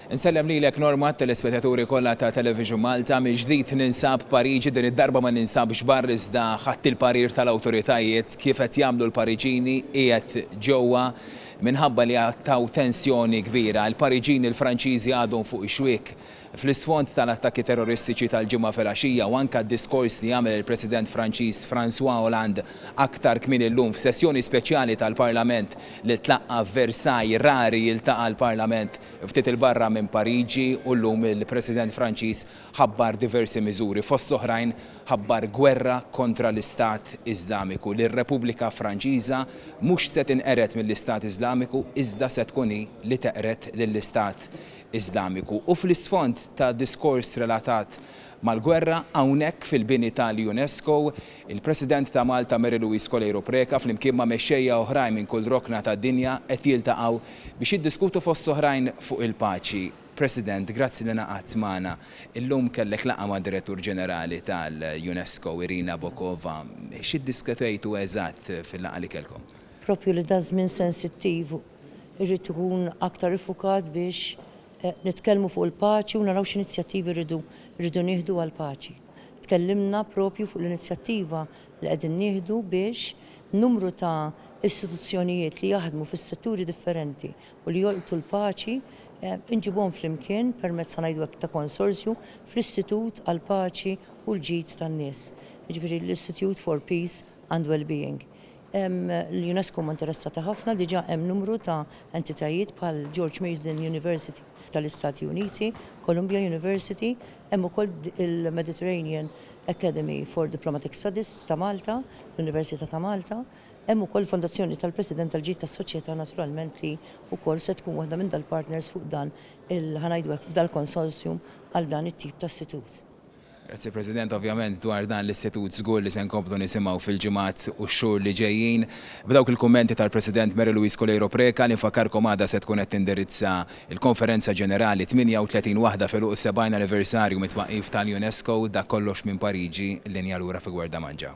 Insellem lilek Norma t-telespetaturi kollha ta' Television Malta mill-ġdid ninsab Pariġi din id-darba ma ninsabx barr iżda ħadd il-parir tal-awtoritajiet kif qed jagħmlu l-Pariġini qiegħed ġewwa minħabba li għad taw tensjoni kbira. Il-Pariġini l-Franċiżi għadhom fuq ix-xwiek Fl-isfond tal-attakki terroristiċi tal-Ġimgħa filgħaxija u anke d-diskors li għamel il-President Franċiż François Hollande aktar kmieni llum f'sessjoni speċjali tal-Parlament li tlaqqa' f'Versailles, rari jiltaqa' l-Parlament ftit 'il barra minn Pariġi u llum il-President Franċiż ħabbar diversi miżuri. Fost l-oħrajn ħabbar gwerra kontra l-Istat Iżlamiku, li r-Repubblika Franċiża mhux se tinqered mill-Istat Iżlamiku iżda se tkun hi li teqred lill-Istat Iżlamiku u fl-isfond ta' diskors relatat mal-gwerra hawnhekk fil-bini tal-UNESCO, il-President ta' Malta Mary Louise Coleiro Preca flimkien ma' mexxejja oħrajn minn kull rokna tad-dinja qed jiltaqgħu biex jiddiskutu fost oħrajn fuq il-paċi. President, grazzi li ingħaqadt magħna. Illum kellek laqgħa mad-Direttur Ġenerali tal-UNESCO, Irina Bokova. X'iddiskutejtu eżatt fil-laqgħa li kellkom? Proprju li da żmien sensittiv Irrid ikun aktar iffukat biex nitkellmu fuq il-paċi u naraw x'inizjattivi rridu rridu nieħdu għall-paċi. Tkellimna propju fuq l-inizjattiva li qegħdin nieħdu biex numru ta' istituzzjonijiet li jaħdmu fis-setturi differenti u li jolqtu l-paċi inġibuhom flimkien permezz ħa ngħidu hekk ta' konsorzju fl-Istitut għall-Paċi u l-Ġid tan-Nies, jiġifieri l-Institute for Peace and Wellbeing. L-UNESCO huma interessati ħafna, diġà hemm numru ta' entitajiet bħal George Mason University tal-Istati Uniti, Columbia University, hemm ukoll il-Mediterranean Academy for Diplomatic Studies ta' Malta, l-Università ta' Malta, hemm ukoll il-Fondazzjoni tal-President għall-Ġid tas-Soċjetà naturalment li wkoll se tkun waħda minn dal-partners fuq dan il-ħa ngħidu hekk f'dal-consortium għal dan it-tip ta' istitut. Grazzi President, ovvjament dwar dan l-istitut żgur li se nkomplu nisimgħu fil-ġimgħat u x-xhur li ġejjin. B'dawk il-kummenti tal-President Mary Louise Coleiro Preca li nfakkarkom għada se tkun qed tindirizza l-Konferenza Ġenerali 38 waħda f'għeluq is-70 anniversarju mit-twaqqif tal-UNESCO, dak kollox minn Pariġi, linja lura fi Guarda Mangia.